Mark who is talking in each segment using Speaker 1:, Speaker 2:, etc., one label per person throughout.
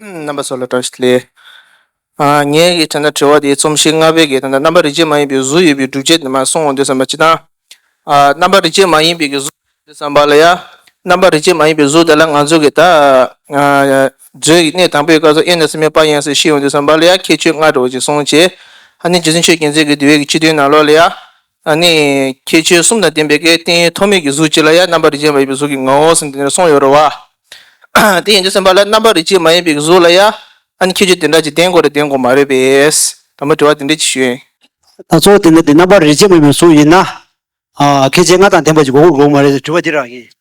Speaker 1: རྣམ་པ་སོགས་ལ་བཀྲ་ཤིས་ལེགས། ངས་ཀྱི་དྲན་ན་དྲི་བ་དེའི་རྩོམ་གཞི་ལྔ་པའི་གེགས་དང་རྣམ་པ་རིག་བྱེད་མ་ཡིན་པའི་གཟུགས་ཡོད་པའི་སྒྲུབ་བྱེད་དེ་མ་གསུངས་འོང་འདོད་བསམ་པ་སྤྱི་དང། རྣམ་པ་རིག་བྱེད་མ་ཡིན་པའི་གེགས་གཟུགས་ཡོད་འོང་འདོད་བསམ་པ་ལ་ཡང། རྣམ་པ་རིག་བྱེད་མ་ཡིན་པའི་གཟུགས་དེ་ལ་ང་ཚོ་གི་ད་གཟོད་ཀྱི་གནས་དང་པོའི་སྐབས་སུ་དབྱེ་ནས་སེམས་མེད་པ་ཡིན་སྲིད་ཤེས་འོང་འདོད་བསམ་པ་ལ་ཡང་ཁྱད་ཆོས་ལྔ་འགྲོ་བ་ཅིག་གསུངས། ཅེས་ཧ་ནི་རྗེ་བཙུན་ཆོས་མཁྱེན་བརྩེགས་ཀྱི་འདུལ་བའི་སྤྱི་དོན་ནང་ལོགས་ལ་ཡང། ཨ་ནི། ཁྱེད་ཆོལ་གསུམ་དང་ལྡན་པའི་སྐད་དེ་ཐོགས་མེད་ཀྱི་གཟུགས་ཅི་ལ་ཡ་རྣམ་པ་རིག་བྱེད་མ་ཡིན་པའི་གཟུགས་ཀྱི་ངོ་བོ་ཟིན་ཏེ་འདི་ནས་སོང་ཡོད་རོ་བ། དེ་ཡན་ཆད་སེམས་དཔའ་ལ་རྣམ་པ་རིག་བྱེད་མ་ཡིན་པའི་གཟུགས་ལ་ཡ། ཨ་ནི་ཁྱེད་ཆོས་དེ་འདྲ་ཅིག་ལྡན་དགོས་རེ་ལྡན་དགོས་མ་རེད་པས། དང་པོ་དྲི་བ་དེ་འདྲས་ཅིག་ཞུས། ད་གཙོ་བོ་དེ་འདྲ་
Speaker 2: དེ་རྣམ་པ་རིག་བྱེད་མ་ཡིན་པའི་གཟུགས་ཡིན་ན། ཨ་ཁྱེད་ཆོས་ལྔ་དང་ལྡན་པ་ཅིག་གོ་དགོས་དགོས་མ་རེད་ཟེར་བའི་དྲི་བ་འདི་རང་ཡིན།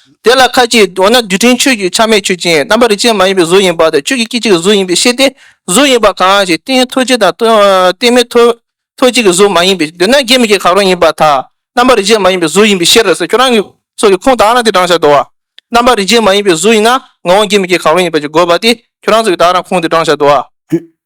Speaker 1: དེ་ལ་ཁ་ཅིག་འོ་ན་རྡུལ་ཕྲན་ཆོས་ཀྱི་ཆ་མེད་ཆོས་ཅན་རྣམ་པར་རིག་བྱེད་མ་ཡིན་པའི་གཟུགས་ཡིན་པ་དང་ཆོས་ཀྱི་སྐད་ཅིག་གི་གཟུགས་ཡིན་པའི་ཤེས་ཏེ་གཟུགས་ཡིན་པ་གང་ཞིག་རྟེན་ཐོད་ཅིག་དང་རྟེན་མེད་ཐོད་ཅིག་གི་གཟུགས་མ་ཡིན་པས་འདོད་ན་དགེ་མི་དགེ་གང་རུང་ཡིན་པ་དག་རྣམ་པར་རིག་བྱེད་མ་ཡིན་པའི་གཟུགས་ཡིན་པའི་ཕྱིར་ཟེར་ཁྱོད་རང་གི་སོགས་ཀྱི་ཁུངས་དག་ན་དེ་བགྲང་བྱ་དོ། རྣམ་པར་རིག་བྱེད་མ་ཡིན་པའི་གཟུགས་ཡིན་ན་ངོ་བོ་དགེ་མི་དགེ་གང་རུང་ཡིན་པ་ཅིག་དགོས་པ་སྟེ་ཁྱོད་རང་སོགས་ཀྱི་དག་ན་ཁུངས་དེ་བགྲང་བྱ་དོ།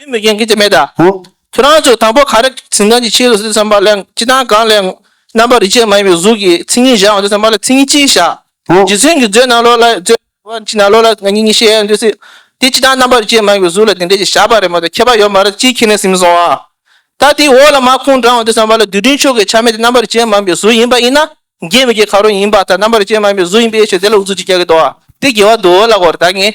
Speaker 2: བུད་མེད་རྒན་གྱི་དེ་
Speaker 1: མེད་ད། ཁྱོད་རང་ཚོས་དང་པོ་ག་རེ་ཟིན་གང་གི་ཕྱིར་རོ་ཟེར་བསམ་པ་ལས་ཅི་དང་གང་ལས་ངོ། རྣམ་པར་རིག་བྱེད་མ་ཡིན་པའི་གཟུགས་ཀྱིས་མཚན་ཉིད་བཞག་འོང་ཟེར་བསམ་པ་ལས་མཚན་ཉིད་ཅི་ཞིག་བཞག། རྗེ་བཙུན་གྱིས་མཛོད་རྣམས་ལོག་ལ་མཛོད། བ་ཅི་ན་ལོག་ལ་ང་ཉིད་ཉིད་ཤེས་ཡོན་འདོད་སྲིད། དེ་ཅི་དང་རྣམ་པར་རིག་བྱེད་མ་ཡིན་པའི་གཟུགས་ལ་དེ་འདྲས་ཞིག་བཞག་པ་རེད་མ་གཏོགས་ཁྱད་པར་ཡོད་མ་རེད་ཅིའི་ཁྱེད་ནས་ཟིན་སོང་བ། ད་དེའི་འོག་ལ་མ་ཁུངས་དྲངས་འོང་ཟེར་བསམ་པ་ལས་རྡུལ་ཕྲན་ཕྱོགས་ཀྱི་ཆ་མེད་དེ་རྣམ་པར་རིག་བྱེད་མ་ཡིན་པའི་གཟུགས་ཡིན་པ་ཡིན་ན། རྒྱས་མི་རྒྱས་ག་རུང་ཡིན་པ་ལྟར་རྣམ་པར་རིག་བྱེད་མ་ཡིན་པའི་གཟུགས་ཡིན་པའི་ཕྱིར་དེ་ལ་འུ་ཚུགས་ཀྱིས་རྒྱག་གི་འདུག་བ། དེ་རྒྱལ་བ་འདུལ་བ་ལ་གོ་རེ་ད་ངས།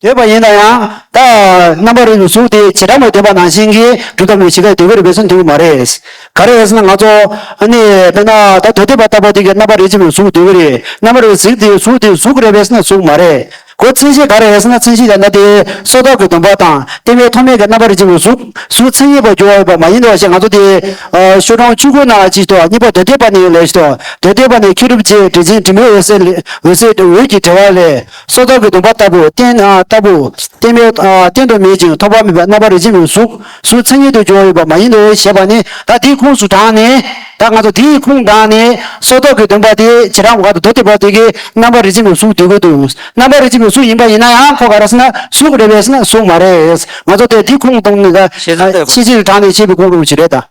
Speaker 2: ཡོད་པ་ཡིན་ན་ཡང། ད་རྣམ་པར་རིག་པའི་གཟུགས་དེ་བྱེ་བྲག་མའི་བདེན་པ་ནང་བཞིན་གྱི་སྒྲུབ་ཐབས་ནི་ཇི་སྐད་དེ་བས་རིག་པའི་ཚུལ་འདི་ཀུན་མ་རེད། ག་རེ་ཡས་ན་ང་ཚོ། ནི། དཔེར་ན། ད་དོ་བདེན་པ་ལྟ་བུ་དེ་གའི་རྣམ་པར་རིག་བྱེད་མའི་གཟུགས་དེ་ཀུན་རེད། རྣམ་པར་རིག་གཟིགས་དེའི་གཟུགས་དེ་གཟུགས་རེད་བས་ན་གཟུགས་མ་རེད་གོ། མཚན་གཞི་ག་རེ་ཡས་ན་མཚན་གཞི་ཡང་ན་དེ། སོ་རྟགས་ཀྱི་སྡོམ་པ་དང་བསྟན་པའི་ཐོག་མའི་གའི་རྣམ་པར་རིག་བྱེད་མའི་གཟུགས་སུ་མཚན་ཉིད་པར་འགྱུར་བ་ཡོད་པ་མ་ཡིན་ནོ་ཞེས་ང་ཚོ་དེ། ཤོ་གྲོང་ཆུ་ཁོལ་ན་ཅིག་ཏུ་གཉིས་པ་དོ་བདེན་པ་ནི་ལས་ཤིག་ཏུ། དོ་བདེན་པ་ནི་མཁས་གྲུབ་རྗེས་འབྲེལ་ཅིང་དྲི་མེད་འོད་གསལ་ལས་འོད་གསལ་འོད་ཀྱི་འབྲེལ་བ་ལས། སོ་ཐར་གྱི་སྡོམ་པ་ལྟ་བུ། རྟེན་ལྟ་བུ། རྟེན་མེད། རྟེན་དུ་མེད་ཅིང་ཐོགས་པ་མེད་པའི་རྣམ་པར་རིག་བྱེད་མིན་གཟུགས་སུ་མཚན་ཉིད་དུ་འབྱུང་བ་ཡོད་པ་མ་ཡིན་ནོ་ཞེས་པ་ནི་བདག་དེའི་ཁུངས་སུ་དྲངས་ནས། བདག་ང་ཚོ་དེའི་ཁུངས་དྲངས་ནས། སོ་ཐར་གྱི་སྡོམ་པ་དེ་བྱེ་བྲག་ག་དང་དོ་དེ་བར་དེ་གའི་རྣམ་པར་རིག་བྱེད་མིན་གཟུགས་དེ་ཀུན་ཏུ་རྣམ་པར་རིག་བྱེད་མིན་གཟུགས་ཡིན་པ་ཡིན་ན་ཡང་ཁོ་ག་རེ་ཟེར་ན་གཟུགས་རེ་བས་ཟེར་ན་གཟུགས་མ་རེད། ང་ཚོ་དེ་དེའི་ཁུངས་དང། ཤེས་བྱེད་དྲངས་ནས་ཤེས་པའི་ཁུངས་རེད་ད།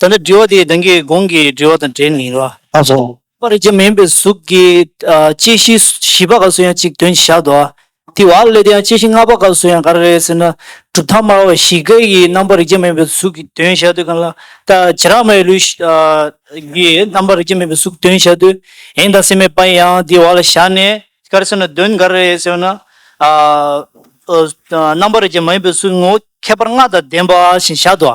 Speaker 3: ད་ནི་དྲི་བ་དེ་གདངས་ཀྱི་གོང་གི་དྲི་བ་དང་འབྲེལ་ནས་རོ། ཨ་ཧོ། པ་རིག་
Speaker 2: བྱེད་མ་ཡིན་པའི་
Speaker 3: གཟུགས་ཀྱི་སྐྱེ་ཤི་བཞི་པ་ག་སུ་ཡང་གཅིག་དོན་གྱིས་བཞག་ཏུ། དེ་བ་ལས་དེ་ཡང་སྐྱེ་ཤི་ལྔ་པ་ག་སུ་ཡང་ག་རེ་རེད་ཟེར་ན། གྲུབ་མཐའ་སྨྲ་བ་བཞི་ཀའི་ཡི་རྣམ་པར་རིག་བྱེད་མ་ཡིན་པའི་གཟུགས་ཀྱི་དོན་བཞག་དུས་གང་ལ། ད་ཇི་རགས་མའི་ལུས། ཀྱི་རྣམ་པར་རིག་བྱེད་མ་ཡིན་པའི་གཟུགས་དོན་བཞག་དུས། ཡིན་དང་སྲིད་མེད་པ་ཡང་དེ་བ་ལ་བཞག་ནས། ག་རེ་ཟེར་ན་དོན་ག་རེ་རེད་ཟེར་བ་ན། རྣམ་པར་རིག་བྱེད་མ་ཡིན་པའི་གཟུགས་ངོ་བོ་ཁྱད་པར་ལྔ་དང་ལྡན་པ་བཞིན་བཞག་ཏུ།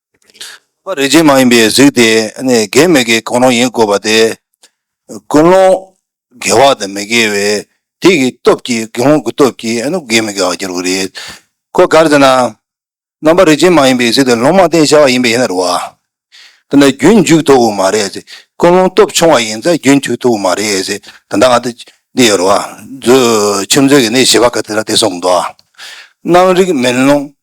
Speaker 2: རིག་བྱེད་
Speaker 4: མ་ཡིན་པའི་གཟུགས་དེ་ནི་དགེ་མི་དགེའི་གང་རུང་ཡིན་དགོས་པ་སྟེ། ཀུན་སློང་དགེ་བ་དང་མི་དགེ་བའི་དེ་ཡི་སྟོབས་ཀྱིས་དགེ་སློང་གི་སྟོབས་ཀྱིས་དགེ་མི་དགེ་བར་འགྱུར་བ་རེད། ཁོ་ག་རེ་ཟེར་ན། རྣམ་པར་རིག་བྱེད་མ་ཡིན་པའི་གཟུགས་དེ་ལོང་མ་བསྟན་བྱ་བ་ཡིན་པས་ཡིན་ན་རུང་བ། དེ་ལ་རྒྱུན་མཇུག་ཐུབ་བོ་མ་རེད། ཀུན་སློང་སྟོབས་ཆུང་བ་ཡིན་ཚ་རྒྱུན་མཇུག་ཐུབ་བོ་མ་རེད། ད་ལྟ་ང་འདི་ཡོད་རུང་བ། ཁྱིམ་མཚེས་ཀྱི་ནི་བྱིས་པ་ག་དེ་ལ་དེ་སོང་གི་འདུག་ཨ། རྣམ་རིག་མིན་སློང་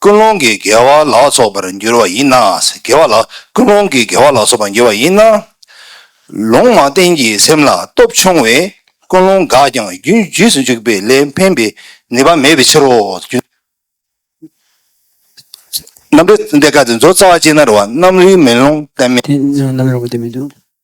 Speaker 4: ཀུན་སློང་གི་དགེ་བ་ལ་སོགས་པར་འགྱུར་བ་ཡིན་ན། དགེ་བ་ལ་ཀུན་སློང་གི་དགེ་བ་ལ་སོགས་པར་འགྱུར་བ་ཡིན་ན། ལུང་མ་བསྟན་གྱི་སེམས་ལ་སྟོབས་ཆུང་བས་ཀུན་སློང་འགགས་ཀྱང་རྒྱུན་བརྗིད་དུ་འཇུག་པའི་ལས་འཕེན་པའི་ནུས་པ་མེད་པའི་ཕྱིར་རོ། རྣམ་རིག་ལྡན་ཁ་ཅིག་མཛོད་རྩ་བ་ཅན་ན་རུ་བ་རྣམ་རིག་མེ་ལོང་བསྟན་མེད། རྣམ་རིག་ལྡན་མེད་
Speaker 2: དུ།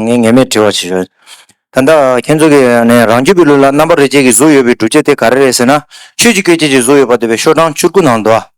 Speaker 5: ངས་ངེས་མེད་དྲི་བ་བྱེད་ཞོར། ད་ལྟ་ཁྱེད་ཚོ་གིས་རང་རྒྱུད་པའི་ལུས་ལ་རྣམ་པ་རེ་བརྒྱད་ཀྱི་གཟུགས་ཡོད་པའི་སྒྲུབ་བྱེད་དེ་ག་རེ་རེད་ཟེར་ན། ཆོས་ཀྱི་སྐད་ཅིག་གི་གཟུགས་ཡོད་པ་འདོད་པའི་ཤོག་གྲངས་བཅུར་དགུ་ནང་དུ།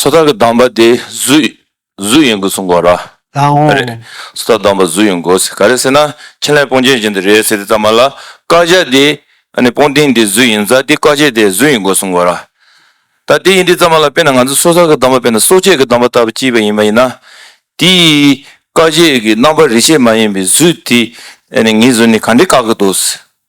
Speaker 6: སོ་ཐར་གྱི་གདམས་པ་དེ་གཟུགས་གཟུགས་ཡིན་དགོས་གསུངས་གོ། ལའང། རེད།
Speaker 2: སོ་ཐར་གདམས་པ་གཟུགས་
Speaker 6: ཡིན་དགོས་ཟེར་ག་རེ་ཟེར་ན་ཕྲིན་ལས་སྤོང་བྱེད་ཅན་དེ་རེད་ཟེར་དེ་ཙམ་མ་ལ་བཀའ་རྒྱ་དེ་ཨ་ནི་སྤོང་ཐེངས་དེ་གཟུགས་ཡིན་ཙང་དེ་བཀའ་རྒྱ་དེ་གཟུགས་ཡིན་དགོས་གསུངས་གོ། ད་དེ་ཡིན་དེ་ཙམ་མ་ལ་དཔེར་ན་ང་ཚོ་སོ་ཐར་གྱི་གདམས་པ་དཔེར་ན་སྲོག་བཅད་ཀྱི་གདམས་པ་ལྟ་བུ་གཅིག་པ་ཡིན་པ་ཡིན་ན། དེ་ཡི་བཀའ་རྒྱས་ཀྱི་རྣམ་པ་རིས་ཆད་མ་ཡིན་པའི་གཟུགས་དེ་ཨ་ནི་ངེས་གཟུགས་ནི་ག་འདྲེ་བཀག་གི་འདུག་ཟེར།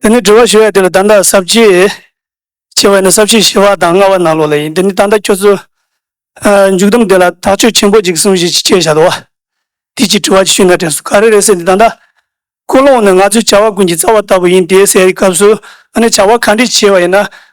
Speaker 7: འདི་ནི་དྲི་བ་ཞུ་བའི་དུས་ལ་ད་ལྟ་གཟབ་བྱེད། ཅེས་པ་ནི་གཟབ་བྱེད་ཞི་བ་དང་ལྔ་བ་ནང་ལོགས་ལ་ཡིན་འདི་ནི་ད་ལྟ་ཁྱོད་ཚོས། མཇུག་བསྡོམས་དེ་ལ་དག་བཅོས་ཆེན་པོ་ཅིག་གསུངས་ཤིག་ཅེས་བཤད་བྱ་དོ། དེ་ཅིའི་དྲི་བ་ཞུས་ན་དྲན་སོ་ག་རེ་རེ་ཟེར་འདི་ད་ལྟ། ཀུན་སློང་ནི་ང་ཚོའི་བྱ་བ་ཀུན་གྱི་རྩ་བ་ལྟ་བུ་ཡིན་དེ་སའི་སྐབས་སུ་ཨ་ནི་བྱ་བ་གང་འདྲས་བྱས་པ་ཡིན་ན་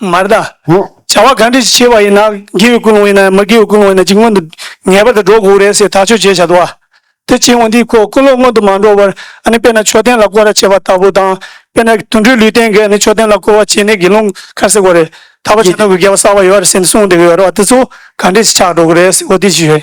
Speaker 2: མར་
Speaker 7: བཟླ། བྱ་བ་གང་འདྲས་བྱེད་པ་ཡིན་ན་དགེ་བའི་ཀུན་སློང་ཡིན་ནམ་མ་དགེ་བའི་ཀུན་སློང་ཡིན་ན་ཅི་སྔོན་དུ་ངེས་པར་དུ་འགྲོ་དགོས་རེད་ཟེར་ཐག་ཆོད་བྱས་བྱ་དུ་བ། དེ་ཕྱིན་འོང་དུས་ཀུན་སློང་སྔོན་དུ་མ་འགྲོ་བར་ཨ་ནི་དཔེར་ན་མཆོད་རྟེན་ལ་སྐོར་བ་བྱེད་པ་ལྟ་བུ་དང། དཔེར་ན་དུད་འགྲོའི་ལུས་རྟེན་འགས་ནི་མཆོད་རྟེན་ལ་སྐོར་བ་བྱས་ནས་དགེ་སློང་ཁར་སེར་བོ་རེད་ད་བར་བྱ་དོན་གྱི་དགེ་བ་བསགས་པ་ཡོད་རེད་ཟེར་ནས་གསུངས་འདུག་ཡོད་རེད་བ་དེ་ཚོ་གང་འདྲས་ཆགས་འགྲོ་གི་རེད་ཟེར་བོ་དེ་བྱས།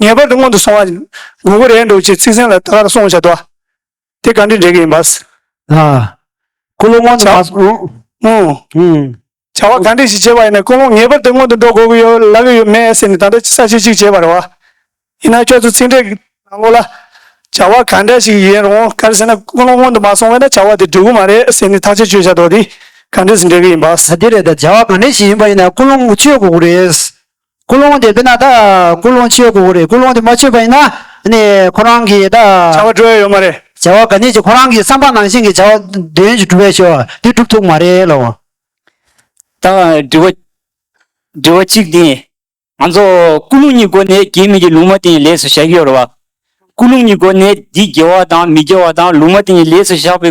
Speaker 7: ངེས་པར་དུ་སྔོན་དུ་སོང་བ་ཡིན། དགོས་མཁོ་རེད་འདུག་ཅེས་ཚིག་ཟིན་ལ་ད་གར་སོང་བྱ་འདུག་ཨ། དེ་ག་འདྲའི་འགྲིག་གི་ཡིན་པ། ལ། ཀུན་སློང་
Speaker 2: སྔོན་དུ་མ་
Speaker 7: སོང། བྱ་བ་ག་འདྲས་ཞིག་བྱེད་པ་ཡིན་ན་ཀུན་སློང་ངེས་པར་དུ་སྔོན་དུ་འགྲོ་དགོས་ཀྱི་ཡོད་ལབ་ཡོད་ཡོད་མེད་ཟེར་ནས་ད་ལྟ་ས་བྱི་གཅིག་བྱེད་པར་བ། ཡིན་ན་ཁྱོད་ཚོ་ཚིག་འགྲེལ་གྱི་ནང་ལོག་ལ། བྱ་བ་ག་འདྲ་ཞིག་ཡིན་རུང་ག་རེ་ཟེར་ན་ཀུན་སློང་སྔོན་དུ་མ་སོང་བས་ན་བྱ་བ་དེ་འགྲིག་གི་མ་རེད་ཟེར་ནས་ཐག་གཅོད་བྱས་བྱ་འདུག་དེ་ག་འདྲས་སུ་འགྲིག་གི་ཡིན་པ། ཨ་དེ་རེད་ད་བྱ་བ་ག་འདྲས་
Speaker 2: ཞིག་ཡིན་པ་ཡིན་ན་ཀུན་སློང་སྔོན་བྱེད་དགོས་ཀྱི་རེད། ཀུན་སློང་དེ་འདི་ན་ད་ཀུན་སློང་སྤྱོད་དགོས་རེད་ཀུན་སློང་དེ་མ་སྤྱོད་པ་ཡིན་ན་ནི་ཁོ་རང་གིས་ད། བྱ་བ་འགྲུབ་ཡོད་མ་རེད།
Speaker 7: བྱ་བ་ག་ནས་ཀྱི་ཁོ་རང་གིས་
Speaker 2: བསམ་པ་ནང་བཞིན་གྱི་བྱ་བ་འདི་ཡོན་གྱི་འགྲུབ་བས་ཆོག་དེ་འགྲུབ་ཐུབ་མ་རེད་ལོ། ད་
Speaker 3: དྲི་བ་དྲི་བ་གཅིག་དེ། ང་ཚོ་ཀུན་སློང་གཉིས་སྒོ་ནས་རྒྱའི་མི་གྱི་ལུང་མ་དེ་ཡི་ལས་སུ་བཞག་གི་ཡོད་རེད་བ། ཀུན་སློང་གཉིས་སྒོ་ནས་འདི་དགེ་བ་དང་མི་དགེ་བ་དང་ལུང་མ་དེ་ཡི་ལས་སུ་བཞག་པའི་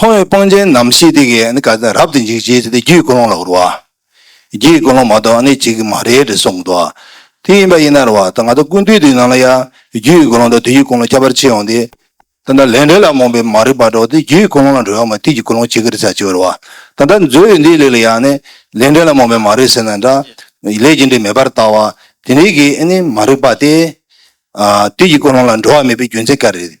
Speaker 4: མཐོང་བའི་སྤང་བྱའི་རྣམ་ཤེས་དེ་གའི་ནི་ཀ་དེ་རབ་ཏུ་འཇིག་བྱེད་དེ་རྒྱུའི་ཀུན་སློང་ལ་འུར་བ། རྒྱུའི་ཀུན་སློང་མ་གཏོགས་ནི་གཅིག་གིས་མ་རེད་ཅེས་གསུངས་འདུག་བ། དེ་ཡིན་པ་ཡིན་ན་རེ་བ་ད་ང་ཚོ་ཀུན་བཏུས་དེའི་ནང་ལ་ཡང་རྒྱུའི་ཀུན་སློང་དང་དུས་ཀྱི་ཀུན་སློང་ཁྱད་པར་ཕྱེ་ཡོང་སྟེ། ད་ལྟ་ལས་འབྲས་ལ་རྨོངས་པའི་མ་རིག་པ་འདྲ་བོ་དེ་རྒྱུའི་ཀུན་སློང་ལ་འགྲོ་ཡོང་བ་དུས་ཀྱི་ཀུན་སློང་ཅི་དགར་བྱ་ཅི་བར་བ། ད་ལྟ་མཛོད་འོད་འདིའི་ལུས་ལ་ཡང་ནི་ལས་འབྲས་ལ་རྨོངས་པའི་མ་རིག་ཟེར་ན་འདྲ། ལས་ཀྱི་འབྲས་མེད་པར་བལྟ་བ། དེ་འདི་གའི་ནི་མ་རིག་པ་སྟེ། དུས་ཀྱི་ཀུན་སློང་ལ་འགྲོ་བ་མེད་པའི་རྒྱུ་མཚན་ག་རེ་རེད།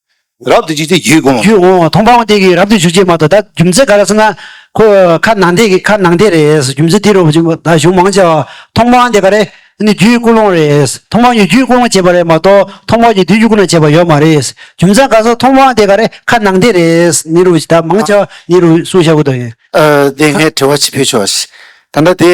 Speaker 4: རབ་ཏུ་འཇུག་ཚེ་རྒྱུད་དགོངས། རྒྱུད་དགོངས་མཐོང་སྤང་བ་འདི་གིས་རབ་
Speaker 2: ཏུ་འཇུག་ཅེས་སྨྲ་དོ་ད་རྒྱུ་མཚན་ག་རེ་ཟེར་ན། ཁོ་ཁ་ནང་འདི་གི་ཁ་ནང་འདི་རེད་རྒྱུ་མཚན་འདི་རུ་བ་ཅིག་ད་གཞུང་མང་ཆེ་བ་མཐོང་སྤང་བ་འདི་ག་རེ་ནི་རྒྱུད་སྐུ་ལོང་རེད་མཐོང་སྤང་གྱི་རྒྱུད་སྐུ་ལོང་བྱས་པ་རེད་མ་གཏོགས་མཐོང་སྤང་གྱི་དུས་རྒྱུད་སྐུ་ན་བྱས་པ་ཡོད་མ་རེད་རྒྱུ་མཚན་ག་ཟེར་མཐོང་སྤང་བ་འདི་ག་རེ་ཁ་ནང་འདི་རེད་ནི་རུ་བ་ཅིག་ད་མང་ཆེ་བ་ནི་རུ་གསུངས་བཞག་གོ་ད་ཡིན། འདི་ངས་དྲི་བ་
Speaker 1: ཅིག་ཕུལ་ཆོག་ད་ལྟ་དེ།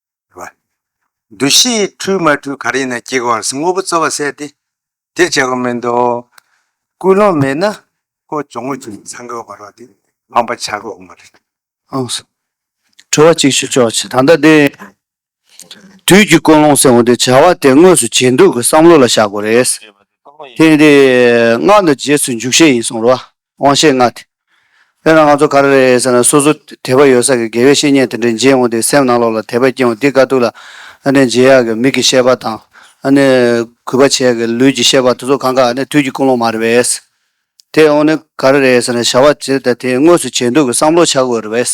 Speaker 8: བ། འདུ་ཤེས་འཁྲུལ་མ་འཁྲུལ་གར་ཡིན་ན་སྐྱེ་བ་བར་དངོས་པོ་རྩོལ་བ་བསལ་ཏེ། འདིར་བྱེད་དགོས་མེད་དོ། ཀུན་སློང་མེད་ན་ཀོ་ཅོ་ངོས་ཀྱི་ཚང་གི་བར་བ་དེ་སྤངས་པ་བྱ་དགོས་འོང་བ་རེད། ཨང། དྲི་
Speaker 9: བ་གཅིག་ཞུ་ཆོག་ད་ལྟ་དེ། དུས་ཀྱི་ཀུན་སློང་ཟེར་བ་དེ་བྱ་བ་དེ་དངོས་སུ་བྱེད་འདོད་ཀྱི་བསམ་བློ་ལ་བཞག་དགོས་རེད། དེ། སྔགས་འདི་རྗེས་སུ་འཇུག་བྱེད་ཡིན་གསུང་རོགས། དབང་ཤེས་ལྔ། དཔེར་ན་ང་ཚོ་ག་རེ་རེད་ཟེར་ན་སོ་སོ་དད་པ་ཡོད་ས་ཀྱི་དགེ་བའི་བཤེས་གཉེན་དེ་འདྲས་མཇལ་འོངས་ཏེ་སེམས་ནང་ལོག་ལ་དད་པ་སྐྱེ་འོང་འདི་དཀའ་སྡུག་ལ་ཨ་ནེ་མཇལ་ཡག་གི་མིག་གིས་ཤེས་པ་དང་ཨ་ནེ་གུས་པ་བྱེད་ཡག་གི་ལུས་ཀྱིས་ཤེས་པ་དེ་ཚོ་གང་གཱ་ཨ་ནེ་དུས་ཀྱི་ཀུན་སློང་མ་རེད་བས། དེ་འོངས་ནས་ག་རེ་རེད་ཟེར་ན་བྱ་བ་ཇི་ལྟ་དེ་དངོས་སུ་བྱེད་འདོད་ཀྱི་བསམ་བློ་བྱ་དགོས་རེད་བས།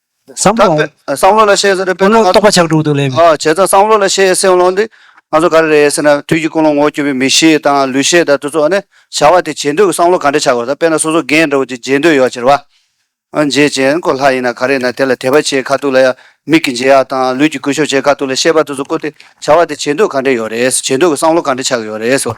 Speaker 9: བསམ་བློ་འོང། བསམ་བློ་ལ་ཤེས་ཟེར་བའི་དཔེ་ན། རྟོག་
Speaker 2: པ་ཆགས་དྲུག་ཏུ་སླེབས། བྱས་ཙང་བསམ་བློ་ལ་
Speaker 9: ཤེས་སེམས་བློ་འདི། ང་ཚོ་ག་རེ་རེད་ཟེར་ན་དུས་ཀྱི་ཀུན་སློང་ངོ་བསྐྱོད་པའི་མི་གཤིས་དང་ལུས་ཤེས་དང་དུས་ཚོད་ནི། བྱ་བ་དེ་བྱེད་འདོད་ཀྱི་བསམ་བློ་ག་འདྲ་ཆགས་དགོས་ད་དཔེ་ན་སོ་སོ་རྒན་འདྲ་བོ་ཅིག་མཇལ་འདོད་ཡོད་ཅེར་བ། མཇལ་ཅན་སྐོར་ལྷ་ཡིན་ན་ག་རེ་ཡིན་ན་དེ་ལ་དད་པ་བྱེད་ཁ་ཐུག་ལ་ཡང་མིག་གིས་མཇལ་ཡག་དང་ལུས་ཀྱིས་གུས་ཞབས་བྱེད་ཁ་ཐུག་ལ་ཤེས་པ་དུས་ཚོད་བཀོལ་ཏེ་བྱ་བ་དེ་བྱེད་འདོད་ག་འདྲ་ཡོད་རེད། བྱེད་འདོད་ཀྱི་བསམ་བློ་ག་འདྲ་ཆགས་ཡོད་རེད།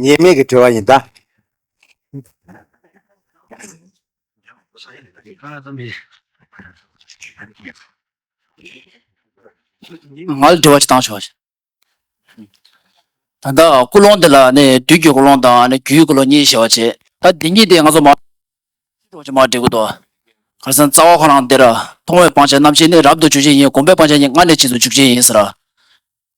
Speaker 8: ཉེས་དམིགས་ཀྱི་དྲི་བ་ཡིན་ད།
Speaker 3: ང་ལ་དྲི་བ་ཅིག་གཏང་ཆོག་ཤིག། ད་ལྟ་ཀུན་སློང་འདི་ལ་ནི་བདུད་ཀྱི་ཀུན་སློང་དང་ནི་རྒྱུའི་ཀུན་སློང་གཉིས་ཞེས་བར་བྱེད། ད་འདི་གཉིས་དེ་ང་ཚོ་མ་འདྲེས་ཀྱི་མ་འདྲེས་ཀུན་ཏུ། གང་སེམས་རྩ་བ་ཁོ་རང་འདིར། མཐོང་བའི་སྤང་བྱ་རྣམ་ཤེས་ནི་རབ་ཏུ་འཇུག་བྱེད་ཡིན་སྒོམ་པའི་སྤང་བྱ་ནི་སྔར་ནས་ཕྱིས་སུ་འཇུག་བྱེད་ཡིན།